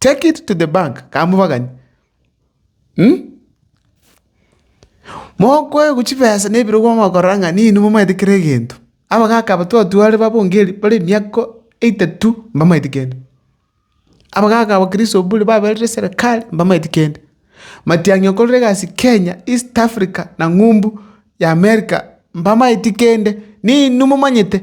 Take it to the bank, kamobagani. Umm. Mokoegwa chibesa na ebirogo mokorora ng'a ninwe momanyete kera egento. Abagaka aba twatware babongeri bare emiaka etato mbamanyeti kende. Abagaka abakristo mbure baberire serikali mbamanyeti kende. Matiang'i okorire egasi Kenya, East Africa na ng'umbu y'America mbamanyeti kende. Ninwe momanyete.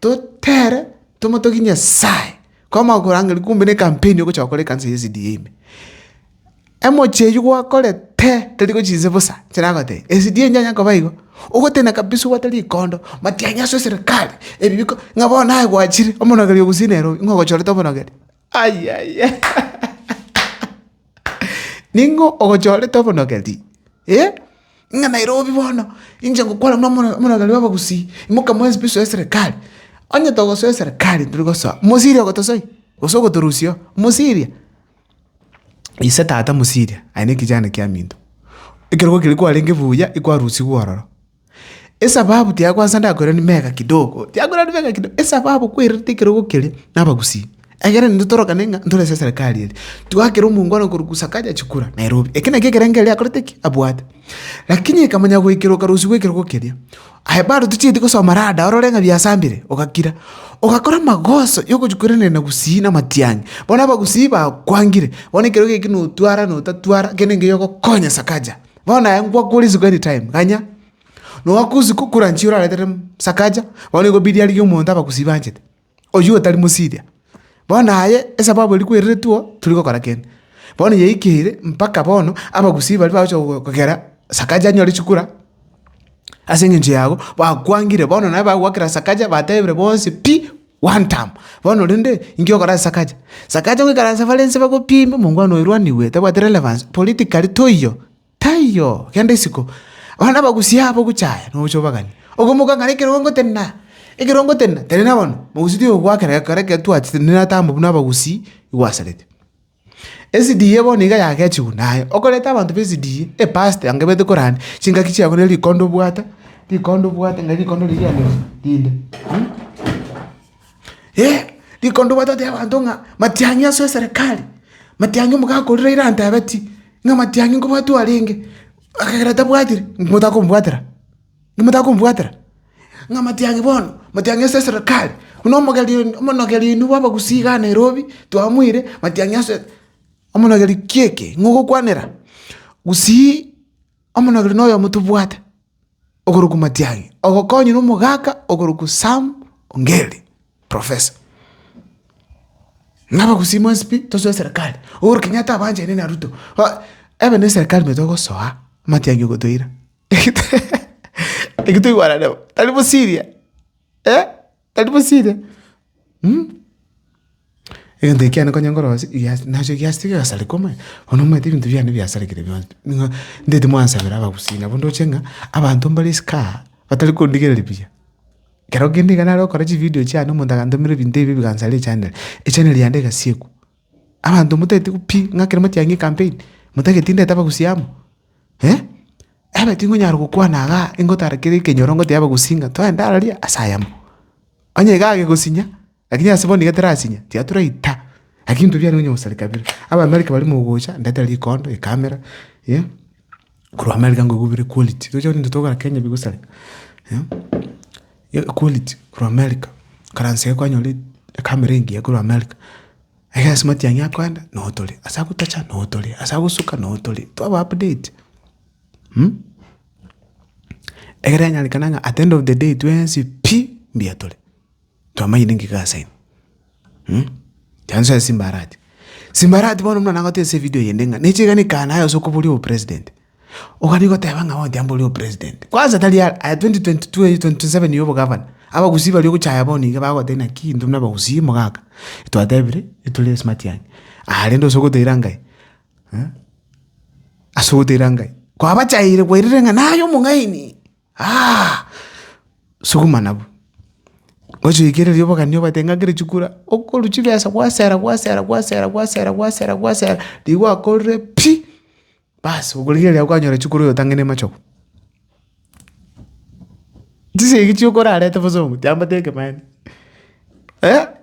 Totere tomotogie Nyasae, kwama okorangeri kumbe ne campaign ogocha gokora ekanisa ya SDA ime. Emochie eywo gwakorete tari gochia inse bosa, inche nagotebia SDA ntianye koba igo, ogotenena kabisa obwate rikondo, matianyaso eserekari, ebi biko, ng'a bono naye gwachire, omonogeri ogusii Nairobi, ng'a ogochorete omonogeri. Ayaya Ning'o ogochorete obonogeri, eh? Ng'a Nairobi bono, inche ngokwana buna omona- omonogeri bw'abagusii, imoka mwensi pi soe eserekari. Onye togosoa eserekari tiri gosoa, mosiria ogotosoia, gose ogotorusia oo, mosiria. Ise tata mosiria, aye ne ekechani kiaminto, ekerogo keria kwarenge buya, ekwarusigwe ororo. Esababu tiakwansa ndakweranie mega kidogo, tiakweranie mega kidogo, esababu kwerete ekerogo keria na abagusii. Ekero intwe torokane ng'a ntore ase eserekari eri, twakera omongwana korwa Kusakaja chikura, Nairobi. Ekio nakio ekerengo erio akorete ki? Abwate. Lakini ekamanya goikera okarusia gw'ekerogo keria, aye bado tochieti gosoma rada orore ng'a biasambire, ogakira. Ogakora amagoso ya ogochia koiraneria na gusii na amatiang'i. Bono abagusii bakwangire, bono ekerogo eki notwara notatwara, kende enke yogokonya Sakaja. Bono aye nkwakora isiko anytime, ganya. Noaka isiko okure anchia oraretere mm Sakaja, bono igo biri arigie omonto abagusi banchete, oyio otari mosiria. Bono aye esababu eria kwereretwe oo, tori gokora kende. Bono yaikire mpaka bono abagusii baria bagocha gogo kogera Sakaja anyore chikura, ase eng'encho yago, bakwangire bono naye bagoakera Sakaja batebire bonsi pi. Gwantaama! Bono rende, inki ogokora ase Sakaja? Sakaja goikara ase bare inse bagopiime, omongwana oyo oirwanigwe, tabwati relevance, politically toiyo, taiyo, genda isiko. Bono abagusi abo gocha aya, nogocha obaganie. Okomoka ng'a nekerongo tenena, ekerongo tenena, tenena bono, mogusi tigokwaa kera gekero ekero twachete, nere atamba buna abagusi, igwasarete. Esidie bono iga yagechigwa naye, okoreta abanto b'esidie, epasti anga ebete korania chingaki chiabo ne rikonda obwate, rikonda obwate ng'a rikonda riria riane rinde eh, rikonda obwate otebia abanto ng'a matiang'i ase eserekari, matiang'i omogaka oria raira antebeti, ng'a matiang'i nkobwatwa arenge, ekagera tabwatire, motakombwatera. Namotakombwatera, ng'a matiang'i bono, matiang'i ase eserikari, buna omogeri oino, omonogeri oino bw'abagusii igaa Nairobi, twamoire, matiang'i ase omonogeri kiekĩ, ng'a ogokwanera, gusii omonogeri na oyomo tobwate okorokwa matiang'i, ogokonywa na omogaka okorokwa Sam Ongeri, professor. Ng'a abagusii mwensi pi tosoe eserikari, Uhuru Kenyatta abanchene na Ruto, ba ebe na eserikari ime togosoa, amatiang'i ogotoira. Eki toigwanane bo, tari bosiria, eh, tari bosiria, mh. Egento eke kiane konye nkorosie, egiasi nacho egiasi tigesareka omanyete, bono omanyete ebinto biane biasarekire bionsi pi, buna ndeti mwansabera abagusii nabo ndoche ng'a abanto mbare is kaa, batari kondigereri buya. Ekero kende iga nare gokora chividio chiane omonto agantomera ebinto ebibe bigansara echaneri, echaneri yane egasiekwa. Abanto motagete pi ng'a ekero motiangi ecampaign, motageti ndete abagusi amo, eh? Ebe tingonyara gokwana igaa ingotara kere ekenyoro ngotebia abagusi ng'a twende araria ase ayamo. Onye iga agegosinya, lakini ase bono iga terasinya, tiga toraita, lakini intwe mbiarenge konya gosareka bire. Abaamerika baria mogocha, ndete rikondo, ecamera, eh? Korwa America ngoigwa bire quality, tochia gokora into togokora Kenya bigosareka, eh? Equality korwa America, Karansa eye kwanyora ekamera engiya korwa America, egesa matiang'i akoenda noo tore, ase agotacha noo tore, ase agosuka noo tore, twaba update. Egere enyarekane ng'a at the end of the day twensi pi mbuya tore, twamanyire ng'ai gasaini. Chanso ya simbarati, simbarati bono buna nagotesia evidio eyende ng'a nechegani kanaye ase okoboria obopresident. Ogani goteba ng'a bono tiambori o president. Kwanza tari aa aya 2022 eye 2027 ya obogavana, abagusii baria ogochaya bono iga bagogotebi naki intwe buna abagusii mogaka, twatebire ntore ase matiang'a. Aya rende ase ogoteira Ngai, ase ogoteira Ngai, kwabachaeire kwairire ng'a naye omong'aini aa, suguma nabwo. Gochi oikereria obogani obate ng'a kere chikura, okorwa chibesa gwasera gwasera gwasera gwasera gwasera gwasera, rigoakorire pi. Baas, okorigereria kwanyora echuo kore oyotang'ani amachogo. Chisegi chioka orarete bosongo chiambate ekemani,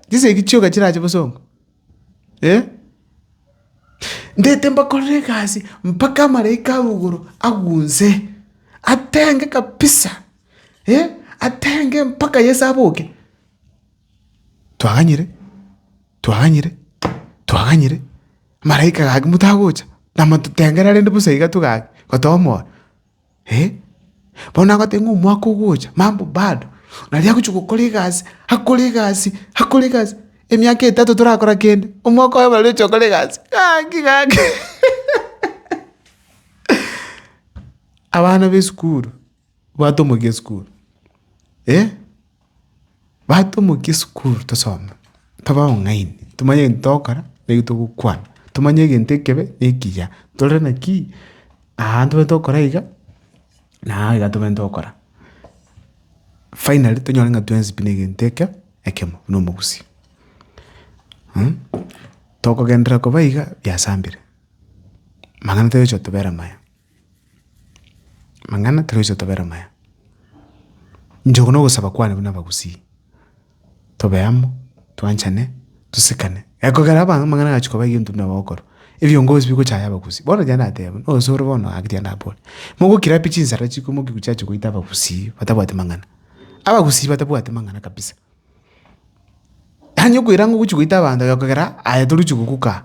chisegi chioka chirache bosongo, ndete mbakorere egasi mpaka amaraika a igoro agwo inse, atenge kabisa, atenge mpaka Yeso aboke. Twaganyire. Twaganyire, twaganyire, amalaika gaki motagocha, namototengerera rende bosa iga togaki, gotomoa, eh. Bono nagotebi ng'a omwaka ogocha, mambo bado, naria agochi gokora egasi, akore egasi, akore egasi, emiaka etato torakora kende, omwaka oye bare oche okore egasi, gaki gaki abana b'esukuru. Batomokia esukuru, eh, batomokia esukuru tosome, tobe abang'aini, tomanye egento togokora na eki togokwana, tomanye egento ekebe na ekiya, tore naki aa ntwe tokora iga na aa iga tobwenerete tokora. Finally tonyore ng'a twensi pi negento eke ekemo buna omogusii. Tokogenderera koba iga biasambire, amang'ana toyochi kotobera amaya. Amang'ana toroise tobere amaya. Inche okwo nogosaba kwane buna abagusii, tobe amo, twanchane, tosekane. Ekogera abange amang'ana agachi koba egento buna ogokorwa, ebiongozi bigochaya abagusii. Bono onye nateba, onsi ore bono gaki tiga nabore, mogokira pi chinsara chikwe mokiku chiacha goita abagusii batabwati mang'ana? Abagusii batabwati mang'ana kabisa. Yaani okoira ng'a ogochi goita abanto ekogera aye torigochi gokuka aa.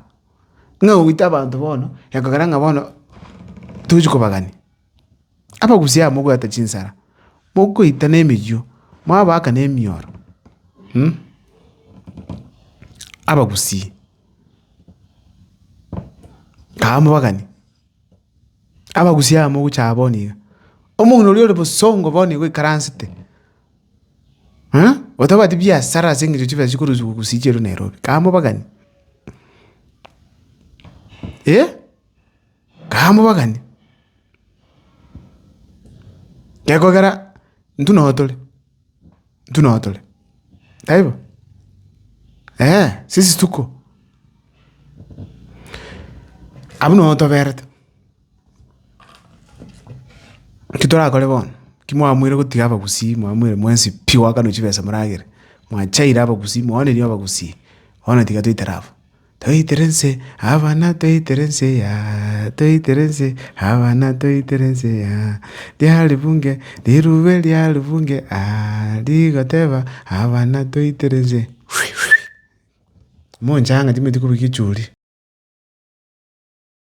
Ng'a oite abanto bono, ekogera ng'a bono tochia kobagania. Abagusia aba mobwate chinsara, mokoita na emiywo, mwabaka na emioro, abagusii, kae mobaganie. Abagusia aba mogocha aa bono iga, omong'ina oria ore bosongo bono iga oikaransete. Otabwati biasara ase engencho chibesa chikorusigwa gose chieirwe Nairobi, kae mobagani? Eh, kae mobagani? Gekogera intwe nao tore, intwe nao tore, taibo? Eeh, sisi tuko, abwo nabo toberete. Eki torakore bono, ki mwamweire gotiga abagusii, mwamweire mwensi pi goakanwa chibesa moragere, mwachaire abagusii, mwaonerie abagusii, bono tiga toitere abwo. Toitere nse abana toitere nse yaah, toitere nse abana toitere nse yaah, ria ribunge rirube ria ribunge aah, rigoteba abana toitere nse mhwiihwii, mochanga timwetigwa kobua echuuri.